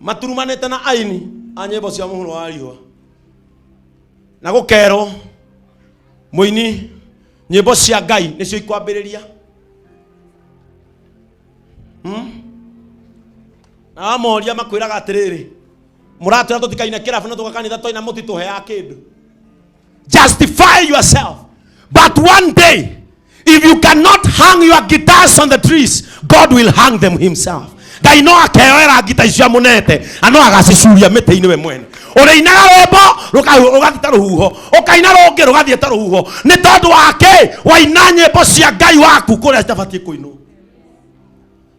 maturumanĩte na aini a nyĩmbo cia mũhuro wa riũa na gũkerwo mũini nyĩmbo cia ngai nĩcio ikwambĩrĩria Hmm? na wamoria makwĩraga atĩrĩrĩ mũratwĩra tũtikaine kĩrabu na tũgakanitha twaina mũtitũheaga kĩndũ Justify yourself. But one day, if you cannot hang your guitars on the trees, God will hang them himself. ngai no akeoera ngita icio amunete na no agacicuria mĩtĩ-inĩ we mwene ũrĩinaga rwĩmbo rũka- rũgathiĩ ta rũhuho ũkaina rũngĩ rũgathiĩ ta rũhuho nĩ tondũ wake waina nyĩmbo cia ngai waku kũrĩa citabatiĩ kũinwo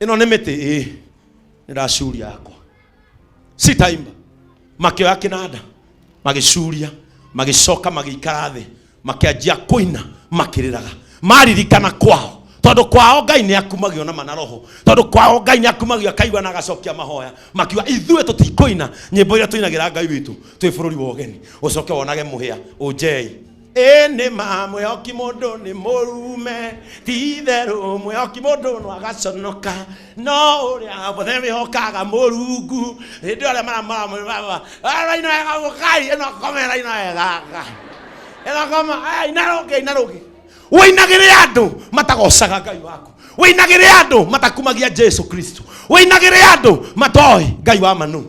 ĩno nĩ mĩtĩ ĩ nĩracuria yakwa sitaimba makĩoya kĩnanda magĩcuria magĩcoka magĩikara thĩ makĩanjia kũina makĩrĩraga maririkana kwao tondũ kwao ngai nĩ akumagio na mana roho tondũ kwao ngai nĩ akumagio akaigua na agacokia mahoya makiuga ithuĩ tũtikũina nyĩmbo iria tũinagĩra ngai witũ twĩ bũrũri wa ũgeni ũcoke wonage mũhĩa ũnjei ĩ nĩ ma mwĩhoki mũndũ nĩ mũrume ti itherũ mwĩhoki mũndũ no agaconoka no ũrĩa wothe wĩhokaga mũrungu hĩndĩ ĩyo arĩa maramũrama raina wega mũkai ĩno ngoma ĩyo raina wega ĩno ngoma aya ina rũngĩ ina rũngĩ wĩinagĩre andũ matagocaga ngai waku wĩinagĩre andũ matakumagia jesu kristo wĩinagĩre andũ matoĩ ngai wa manu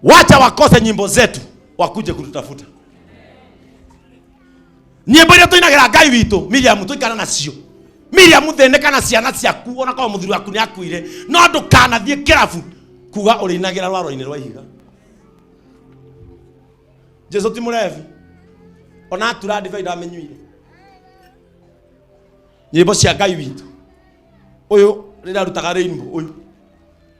wacha wakose nyimbo zetu wakuje kututafuta nyimbo iria tuinagira ngai witå miriamu tuikara nacio miriamu thĩnĩka na ciana ciaku ona korwo mũthuri waku nĩ akuire no ndũkanathiĩ kĩrabu kuga ũrĩinagĩra rwaro-inĩ rwa ihiga jesu ti mũrevi ona atura ndibei ndamĩnyuire nyĩmbo cia ngai witũ ũyũ rĩrĩa arutaga rĩinbo ũyũ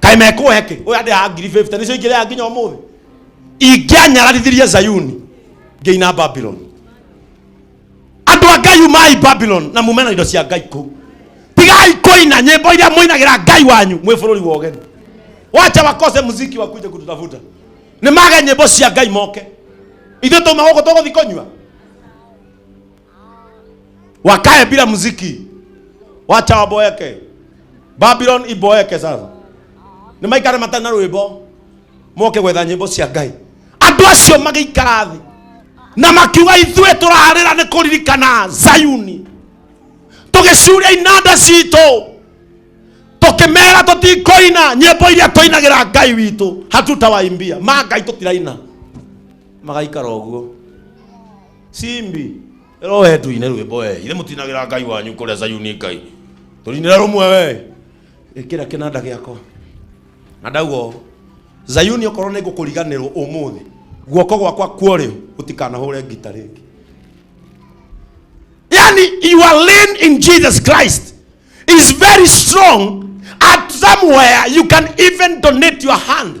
kaĩ mekũhe kĩ ũyũ andĩ a ngiri 50 nĩcio ingĩrĩa nginya ũmũthĩ ingĩanyaratithirie zayuni ngĩina babylon andå a ngai umai babylon na mume na indo cia ngai kå tigai kũina nyĩmbo iria mũinagĩra ngai wanyu mwĩ bũrũri wa ũgeni wacha wakose muziki wakuje kututafuta nĩ mage nyĩmbo cia ngai moke ithuĩ tũma gũkũ tũgũthi kũnyua wakae bila muziki, wacha waboeke. Babylon iboeke sasa, nĩ maikare matarĩ na rwĩmbo, moke gwetha nyĩmbo cia Ngai. Andũ acio magĩikara thĩ na makiuga ithuĩ tũrarĩra nĩ kũririkana Zayuni, tũgĩcuria inanda citũ tukimera tutikoina nyimbo iria tuinagira ngai witu hatutawaimbia ma ngai tutiraina magaikara uguo Simbi rohe tuine rwimbo we ithe mutinagira ngai wanyu kuria sayuni ngai turinira rumwe we ikira kinanda giakwa na ndauga ũũ, zayuni okorwo nĩ ngũkũriganĩrwo ũmũthĩ guoko gwakwa kuorĩo gũtikanahũre ngita rĩngĩ yani your lean in jesus christ is very strong at somewhere you can even donate your hand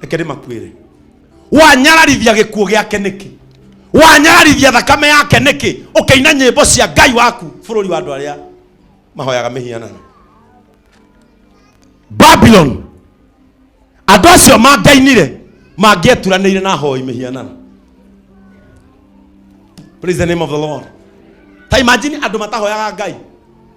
reke ndĩmakuĩre wanyararithia gĩkuũ gĩake nĩkĩ wanyararithia thakame yake nĩkĩ ũkĩina nyĩmbo cia ngai waku bũrũri wa andũ arĩa mahoyaga mĩhianano babylon andũ acio mangainire mangĩeturanĩire na hoi mĩhianano praise the name of the lord ta imagine andũ matahoyaga ngai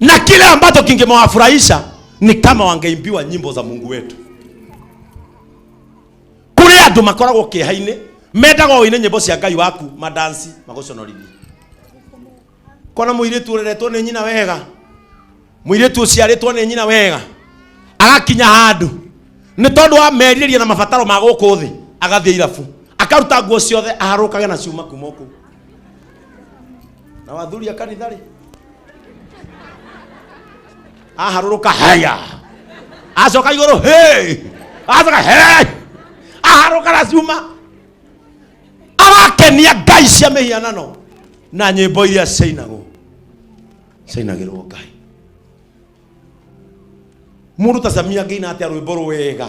na kile ambacho kingemewafurahisha ni kama wangeimbiwa nyimbo za mungu wetu kuri andu makoragwo kieha-ini mendaga oine nyimbo cia ngai waku madansi maguconorithie kona muiritu ureretwo ni nyina wega muiritu uciaritwo ni nyina wega agakinya handu ni tondu wa merirĩria na mabataro ma gũkũ thĩ agathie irabu akaruta nguo ciothe aharũkage na ciuma kuma kũu na wathuri a kanitha rĩ aharũrũka haya acoka igũrũ hey! acoka hey! aharũka na cuma arakenia ngai cia mĩhianano na nyĩmbo iria ciainagwo ciainagĩrwo ngai mũndũ ta samia ngĩina atĩa rwĩmbo rwega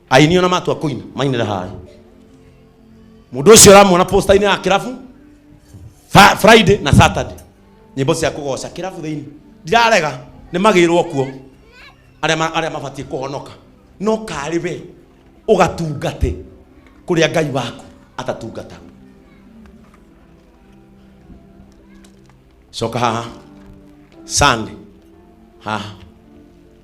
aini ona matua kuina mainira hae mundu ucio uramwona postaini ya kirabu Fa- friday na saturday nyimbo cia kugoca kirabu thiini ndirarega ni magirwo kuo aria ma- aria mabatie kuhonoka no kari we ugatungate kuria ngai waku atatungatagwo coka haha sande haha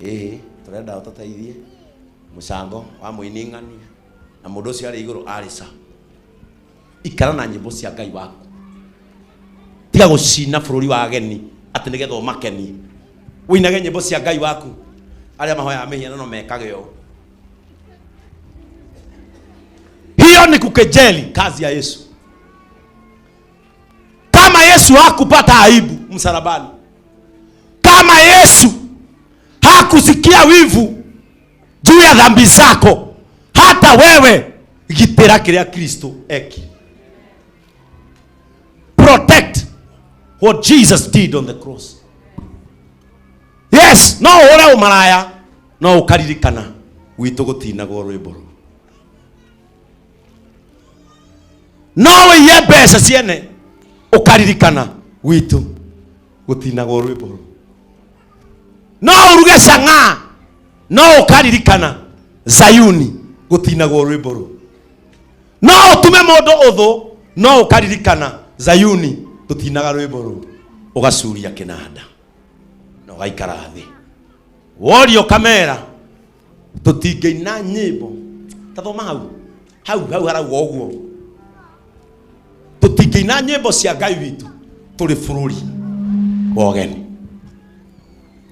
ĩĩ tũrenda ũtũteithie mũcango wa mũining'ania na mũndũ ũcio arĩ igũrũ arĩ ca ikara na nyĩmbo cia ngai waku tiga gũcina bũrũri wa ageni atĩ nĩgetha ũmakenie ũinage nyĩmbo cia ngai waku arĩa mahoyaga mĩhianano mekage ũũ hiyo ni kukejeli kazi ya yesu kama yesu hakupata aibu msalabani kama yesu hakusikia wivu juu ya dhambi zako hata wewe gitĩra kĩrĩa kristo eki protect what jesus did on the cross yes no ũhũre ũmaraya no ũkaririkana gwitũ gũtinagwo rwĩmbo rũu no wĩiye mbeca ciene ũkaririkana gwitũ gũtinagwo rwĩmbo rũu no uruge cang'aa no ũkaririkana zayuni gũtinagwo rwĩmbo rũu no ũtume mũndũ ũthũ no ũkaririkana zayuni tũtinaga rwĩmbo rũu ũgacuria kĩnanda na ũgaikara thĩ worio kamera tũtingĩina nyĩmbo ta thoma hau hau hau harauga ũguo tũtingĩina nyĩmbo cia ngai witũ tũrĩ bũrũri wa ũgeni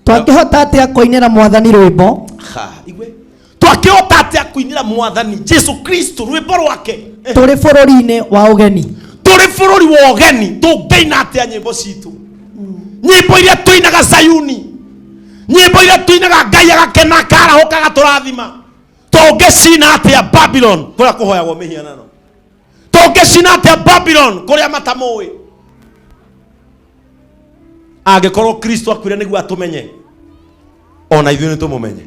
twangĩhota atĩa kũinĩra mwathani rwĩmbo Ha, igwe twakĩhota atĩa kũinĩra mwathani jesu kristo rwĩmbo rwake Eh, tũrĩ bũrũri-inĩ wa ũgeni tũrĩ bũrũri wa ũgeni tũngĩina atĩa nyĩmbo citũ nyĩmbo iria tũinaga zayuni nyimbo iria tuinaga ngai agakena akarahũka agatũrathima tũngĩcina atĩa babylon kũrĩa kũhoyagwo mĩhianano tũngĩcina atĩa babylon kũrĩa matamũĩ angĩkorwo kristo akwire nĩguo atũmenye ona ithuĩ nĩ tũmũmenye